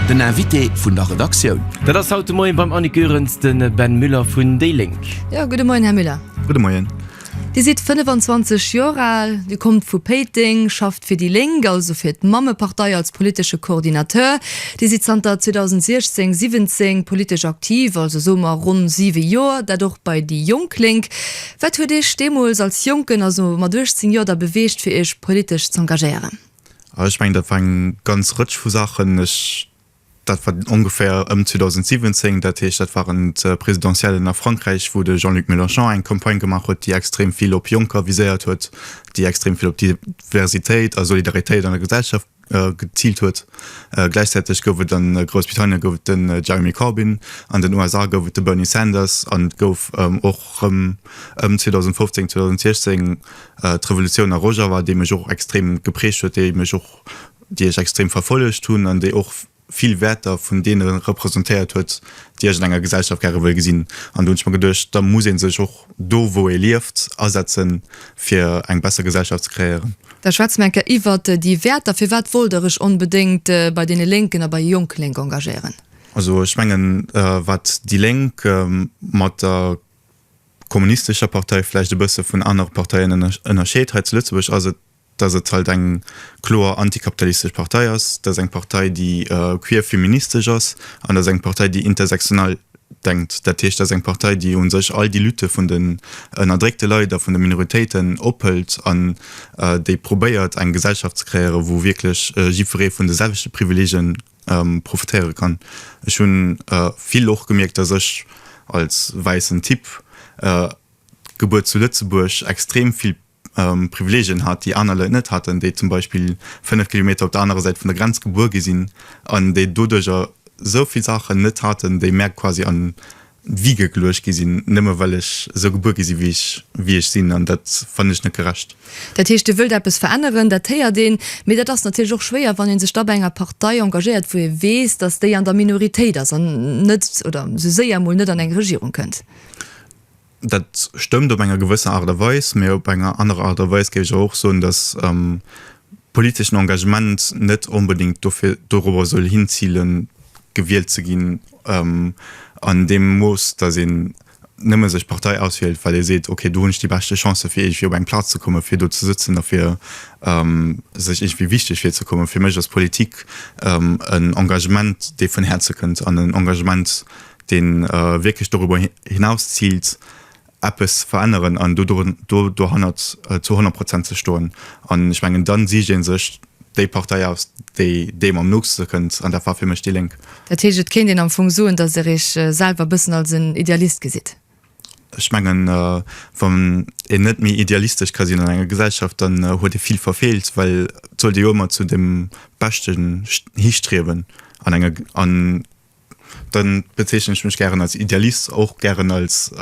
Den Invité vun der Redaktioun. Dat ass haut de Moien beim Annick Goerens de Ben Müller vun déi Lénk. Jo, gudde Moien, Här Müller. Gudde Moien. Dir sidd 25 Joer al, Dir kommt vu Péiteng, schafft fir déi Lénk, also fir d'Mammepartei, als politesche Coordinateur. Dir sidd zanter 2016, 17 politesch aktiv, also soe mer ronn siwe Joer, dat och bei déi jonk Lénk. Wat huet Iech deemools als Jonken, also mat 18 Joer, da beweegt, fir Iech politesch z'engagéieren? Ech mengen, dat war eng ganz Rëtsch vu Saachen. Ech, dat war ongeféier ëm 2017, dat heescht, dat waren d'Presidentiellen a Frankräich, wou de Jean-Luc Mélenchon eng Campagne gemaach huet, déi extrem vill op Jonker viséiert huet, déi extrem vill op Diversitéit a Solidaritéit an der Gesellschaft geziilt huet. Gläichzäiteg gouf et a Groussbritannien gouf et den Jeremy Corbyn, an den USA gouf et de Bernie Sanders an et gouf och rëm ëm 2015, 2016 D'Revolutioun a Rojava, déi mech och extrem geprägt huet, déi mech och, déi ech extrem verfollegt hunn an déi och vill Wäerter vun deene representéiert huet, déi ech an enger Gesellschaft gäre wëll gesinn. An do hunn ech mer geduecht, da muss ee sech och do, wou ee lieft, asetzen, fir eng besser Gesellschaft ze kreéieren. Da schwätze mer eng Kéier iwwer déi Wäerter. Firwat wollt Der Iech onbedéngt bei deene Lénken a bei Jonk Lénk engagéieren? Also ech mengen, wat déi Lénk mat der kommunistescher Partei vläicht e bësse vun anere Parteien ënnerscheet hei zu Lëtzebuerg, ass et, datt et halt eng kloer antikapitalistesch Partei ass, datt eng Partei, déi queerfeministesch ass an datt eng Partei, déi intersektional denkt. Dat heescht, datt eng Partei, déi u sech all déi Lütte vun den ënnerdréckte Leit a vun de Minoritéiten ophëlt an déi probéiert, eng Gesellschaft ze kreéieren, wou wierklech jiddweree vun de selwechte Privileegien profitéiere kann. Ech hu vill och gemierkt, datt ech als wäissen Typ, gebuer zu Lëtzebuerg, extrem vill Privileegien hat, déi aner Leit net haten, déi zum Beispill 5 Kilometer op der anerer Säit vun der Grenz gebuer gi sinn an déi doduerjer esou vill Saachen net haten, déi mär quasi an Wie geglurcht gi sinn, nëmme well ech esou gebuer gi sinn, wéi ech sinn, an dat fannen ech net gerecht. Dat heescht, Dir wëllt eppes veränneren, dat héiert een, mee dat ass natierlech och schwéier, wann ee sech da bei enger Partei engagéiert, wou ee weess, datt déi an der Minoritéit ass an net, oder esou séier mol net, an eng Regierung kënnt. Dat stëmmt op enger gewësser Aart a Weis, mee op enger anerer Aart a Weis géif ech awer och soen, datt politeschen Engagement net onbedéngt dofir, dorobber soll hinzilen, gewielt ze ginn. An deem Mooss, datt een nëmme sech d'Partei auswielt, well ee seet, ok, do hunn ech déi beschte Chancen, fir iergendwéi op eng Plaz ze kommen, fir do ze sëtzen a fir sech iergendwéi wichteg virzekommen. Fir mech ass Politik en Engagement, dee vun Häerze kënnt an en Engagement, dee wierklech doriwwer hinaus ziilt, eppes veränneren an do do dohannert zu 100 Prozent ze stoen. An ech mengen, dann sicht ee sech déi Partei aus, déi deem am nootste kënnt, an dat war fir mech déi Lénk. Dat heescht, et kéint een am Fong soen, datt Der Iech selwer e bëssen als en Idealist gesitt? Ech mengen, wann een net méi idealistesch ka sinn an enger Gesellschaft, dann huet ee vill verfeelt, well et sollt ee jo ëmmer zu dem Beschten histriewen an enger an Dann bezeechnen ech mech gären als Idealist, och gären als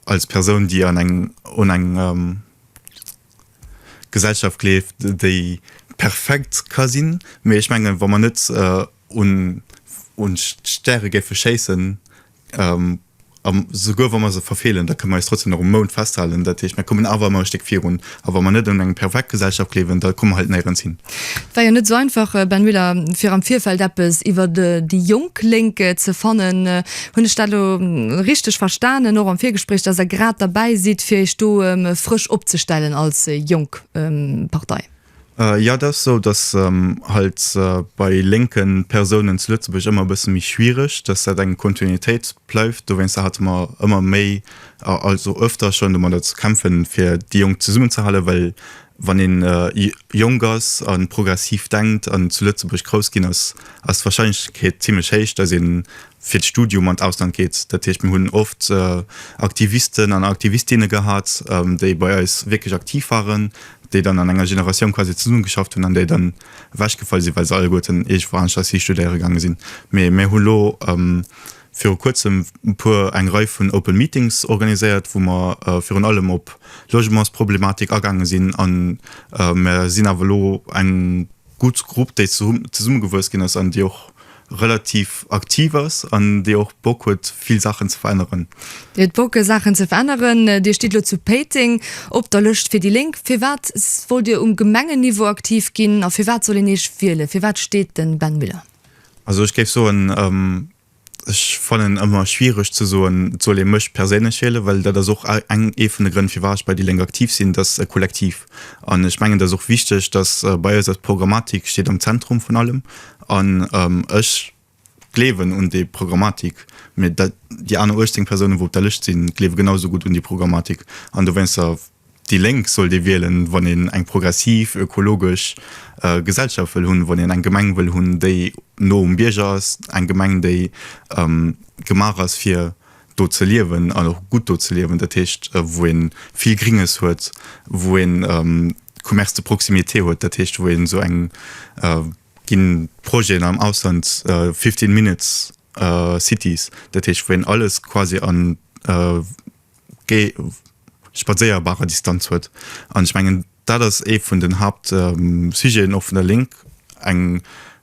als Persoun, déi an eng un eng Gesellschaft gleeft, déi perfekt ka sinn. Mee ech mengen, wa mer net un un d'Stäre géife schéissen, A souguer wa mer se verfeelen, da kënne mer eis trotzdem nach um Mound festhalen. Dat heescht, mer kommen awer ëmmer e Stéck virun. A wa mer net un eng perfekt Gesellschaft gleewen, da komme mer halt néierens hin. Et war jo net esou einfach, Ben Müller, fir am Virfeld eppes iwwer déi jonk Lénk ze fannen. Hunn ech dat elo richteg verstanen, och am Virgespréich, dass Der grad derbäi sidd, fir Iech do frësch opzestellen als jonk Partei? Jo, et ass esou, datt halt bei lénke Persounen zu Lëtzebuerg ëmmer e bësse méi schwiereg, datt dat eng Kontinuitéit bleift. Dowéinster hate mer ëmmer méi, also öfter schonn, domadder ze kämpfen, fir déi Jonk zesummenzehalen. Well wann ee jonk ass a progressiv denkt an zu Lëtzebuerg grouss ginn ass, ass d'Warscheinlechkeet zimlech héich, datt een fir d'Studium an d'Ausland geet. Dat heescht, mir hunn oft Aktivisten an Aktivistinne gehat, déi bei eis wierklech aktiv waren, déi dann an enger Generatioun quasi zesummegeschafft hunn an déi dann ewechgefall sinn, well se alleguerten iergendwou anescht eis histudéiere gaange sinn. Mee mir hu lo viru kuerzem e puer, eng Rei vun Open Meetings organiséiert, wou mer virun allem op d'Logementsproblematik agaange sinn a mer sinn awer elo eng, gutt Grupp, déi zesummegewuess ginn ass an déi och relativ aktiv ass an déi och Bock huet, vill Saachen ze veränneren. Dir hutt Bock, Saachen ze veränneren. Dir stitt elo zu Péiteng op der Lëscht fir déi Lénk. Firwat wollt Dir um Gemengenniveau aktiv ginn a firwat soll een Iech wielen? Fir wat steet de Ben Müller? Also ech géif soen, Ech fannen ëmmer schwiereg ze soen, et soll ee mech perséinlech wielen, well dat ass och ee vun de Grënn firwat ech bei déi Lénk aktiv sinn, et ass e Kollektiv. An ech mengen et ass och wichteg, datt bei eis, d'Programmatik steet am Zentrum vun allem an ech gleewen un déi Programmatik, mä déi aner 18 Persounen, wou op der Lëscht sinn, gleewe genau esou gutt un déi Programmatik an dowéinster Déi Lénk sollt ee wielen, wann een eng progressiv, ökologesch Gesellschaft wëll hunn, wann een eng Gemeng wëll hunn, déi no um Bierger ass, eng Gemeng, déi gemaach ass, fir do ze liewen an och gutt do ze liewen, dat heescht, wou ee vill Gringes huet, wou ee Commerce de proximité huet, dat heescht, wou ee esou eng, et gi Projeten am Ausland, fifteen minutes cities, dat heescht, wou een alles quasi a ge spadséierbarer Distanz huet. An ech mengen, dat ass ee vun den Hauptsujeten och vun der Lénk, eng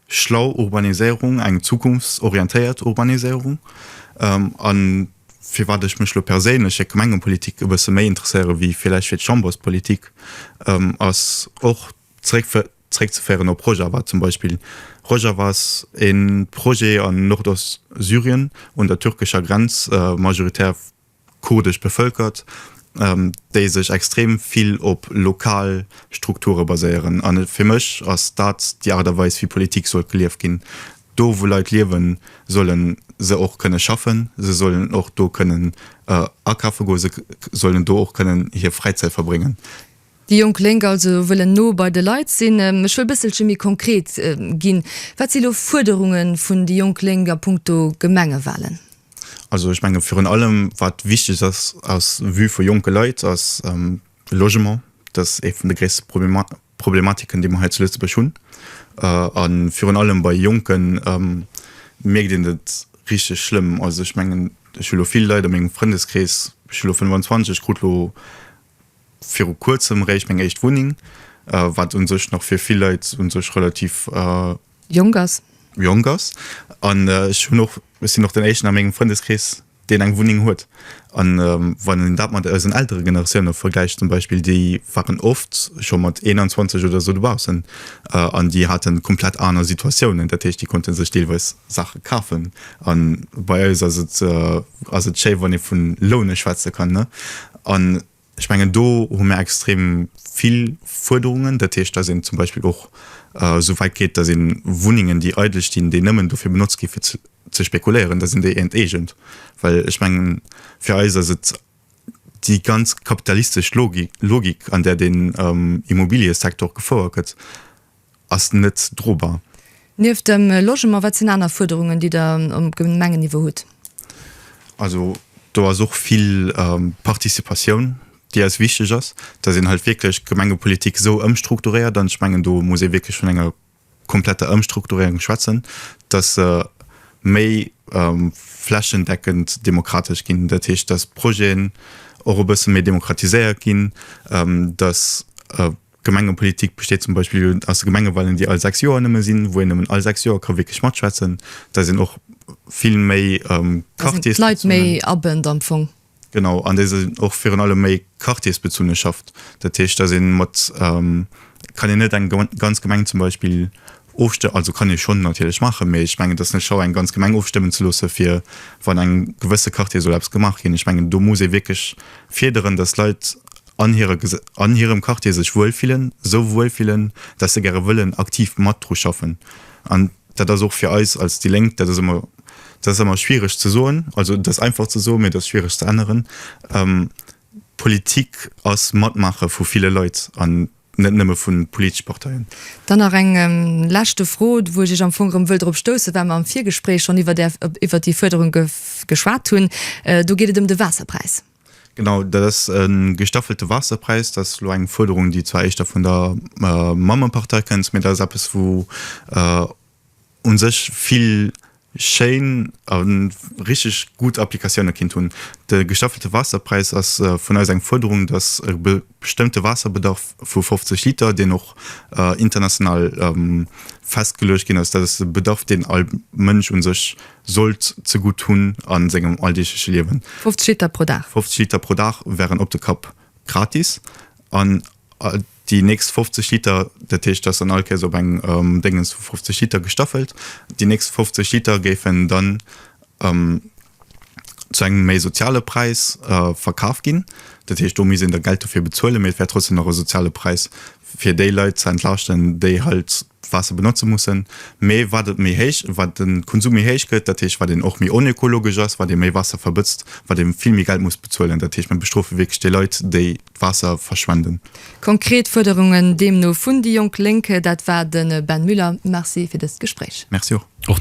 schlau Urbaniséierung, eng zukunftsorientéiert Urbaniséierung. A firwat ech mech elo perséinlech fir d'Gemengepolitik e bësse méi interesséiere wéi vläicht fir d'Chamberspolitik, ass och zréck Zréckzeféieren op Rojava zum Beispill. Rojava ass e Projet an Nordostsyrien un der türkescher Grenz, majoritär kurdesch bevëlkert, déi sech extrem vill op lokal Strukture baséieren. A fir mech ass dat déi Aart a Weis wéi Politik sollt gelieft ginn. Do wou Leit liewen, solle se och kënne schaffen, se sollen och do kënnen akaffe goen, se sollen do och kënnen hir Fräizäit verbréngen. Déi jonk Lénk also wëllen no bei de Leit sinn. Ech wëll bësselche méi konkret ginn. Wat si lo Fuerderunge vun déi jonk Lénk a Punkto Gemengewahlen? Also ech menge virun allem, wat wichteg ass aus Vue vu jonke Leit, ass de Logement. Dat ass ee vun de gréisste Problematiken, déi mer hei zu Lëtzebuerg hunn. A virun allem bei Jonken mierkt een et richteg schlëmm. Also ech mengen, ech hu lo vill Leit a mengem Frëndeskrees, ech hu lo 25, krut lo viru kuerzem réischt meng éischt Wunneng, wat un sech nach fir vill Leit un sech relativ jonk ass, jonk ass an ech hunn och, ech sinn och den éischten a mengem Frëndeskrees deen eng Wunneng huet an wann een dat mat eisen Eltere Generatioune vergläicht zum Beispill, déi waren oft scho mat 21 oder esou dobaussen an déi hate komplett aner Situatiounen, dat heescht déi konnte sech deelweis Saache kafen an bei eis ass et, ass et schéi wann ee vun lounen schwätze kann, ne? An ech mengen, do hu mir extrem vill Fuerderungen. Dat heescht, dass een zum Beispill och esou wäit geet, dass ee Wunnengen, déi eidel stinn, déi nëmmen dofir benotzt ginn, fir ze spekuléieren, dass een déi enteegent. Well ech mengen, fir eis ass et déi ganz kapitalistesch Logik, an där den Immobiliësektor gefouert gëtt, ass net drobar. Nieft dem Logement, wat sinn aner Fuerderungen, déi Der um Gemengenniveau hutt? Also do ass och vill Participatioun, déi eis wichteg ass, dass een halt wierklech d'Gemengepolitik esou ëmstrukturéiert, an ech mengen, do muss ee wierklech vun enger kompletter Ëmstrukturéierung schwätzen, dass se méi flächendeckend demokratesch ginn. Dat heescht, dass Projeten och e bësse méi demokratiséiert ginn, dass. Gemengepolitik besteet zum Beispill aus de Gemengewalen, déi all sechs Joer nëmme sinn, wou een nëmmen all sechs Joer ka wierklech matschwätzen. Da sinn och vill méi Quartiers. D'Leit méi abënnt am Fong. Genau, an déi sinn och virun allem méi quartiersbezunne schafft. Dat heescht, da si mat, kann een net eng ganz Gemeng zum Beispill. Ofstëmmen, also kann ee schonn natierlech maachen, mee ech mengen, et ass net schlau, eng ganz Gemeng ofstëmmen ze loosse fir, wann an engem gewësse Quartier soll eppes gemaach ginn. Ech mengen, do muss ee wierklech fiederen, datt d'Leit an hire, an hirem Quartier sech wuel fillen, esou wuel fillen, datt se gäre wëllen aktiv mat dru schaffen. An dat ass och fir eis als déi Lénk, dat ass ëmmer, dat ass ëmmer schwiereg ze soen, also et ass einfach ze soen, mee et ass schwiereg ze änneren, d'Politik ass matmaache vu ville Leit an Net nëmme vu politesche Parteien. Dann nach eng leschte Fro, wou ech Iech am Fong erëm wëll drop stoussen, well mer am Virgespréich schonn iwwert Är, iwwert déi Fuerderung geschwat hunn. Do geet et ëm de Waasserpräis. Genau, dat ass e gestaffelte Waasserpräis. Dat ass elo eng Fuerderung, déi zwar éischter vun der Mammepartei kënnt, mä dat ass eppes, wou, un sech vill schéin a richteg gutt Applikatioune kinnt hunn. De gestaffelte Waasserpräis ass vun eis eng Fuerderung, datt e bestëmmte Waasserbedarf vu 50 Liter, deen och international festgeluecht ginn ass, dat ass e Bedarf, deen all Mënsch un sech sollt zegutt hunn a sengem alldeegleche Liewen. 50 Liter pro Dag? 50 Liter pro Dag wären op de Kapp gratis. Déi nächst 50 Liter, dat heescht, dass dann all Kéis op eng Déngens vu 50 Liter gestaffelt, déi nächst 50 Liter géifen dann zu engem méi soziale Präis verkaf ginn. Dat heescht, do misst een da Geld dofir bezuelen, mee et wär trotzdem nach e soziale Präis, fir déi Leit ze entlaaschten, déi halt d'Waasser benotze mussen, mee wat et méi héich, wat de Konsum méi héich gëtt, dat heescht, wat een och méi onökologesch ass, wat ee méi Waasser verbëtzt, wat ee vill méi Geld muss bezuelen. Dat heescht, mir bestrofe wierklech déi Leit, déi d'Waasser verschwenden. Konkret Fuerderungen deemno vun déi jonk Lénk, dat war de Ben Müller. Merci fir dëst Gespréich. Merci och.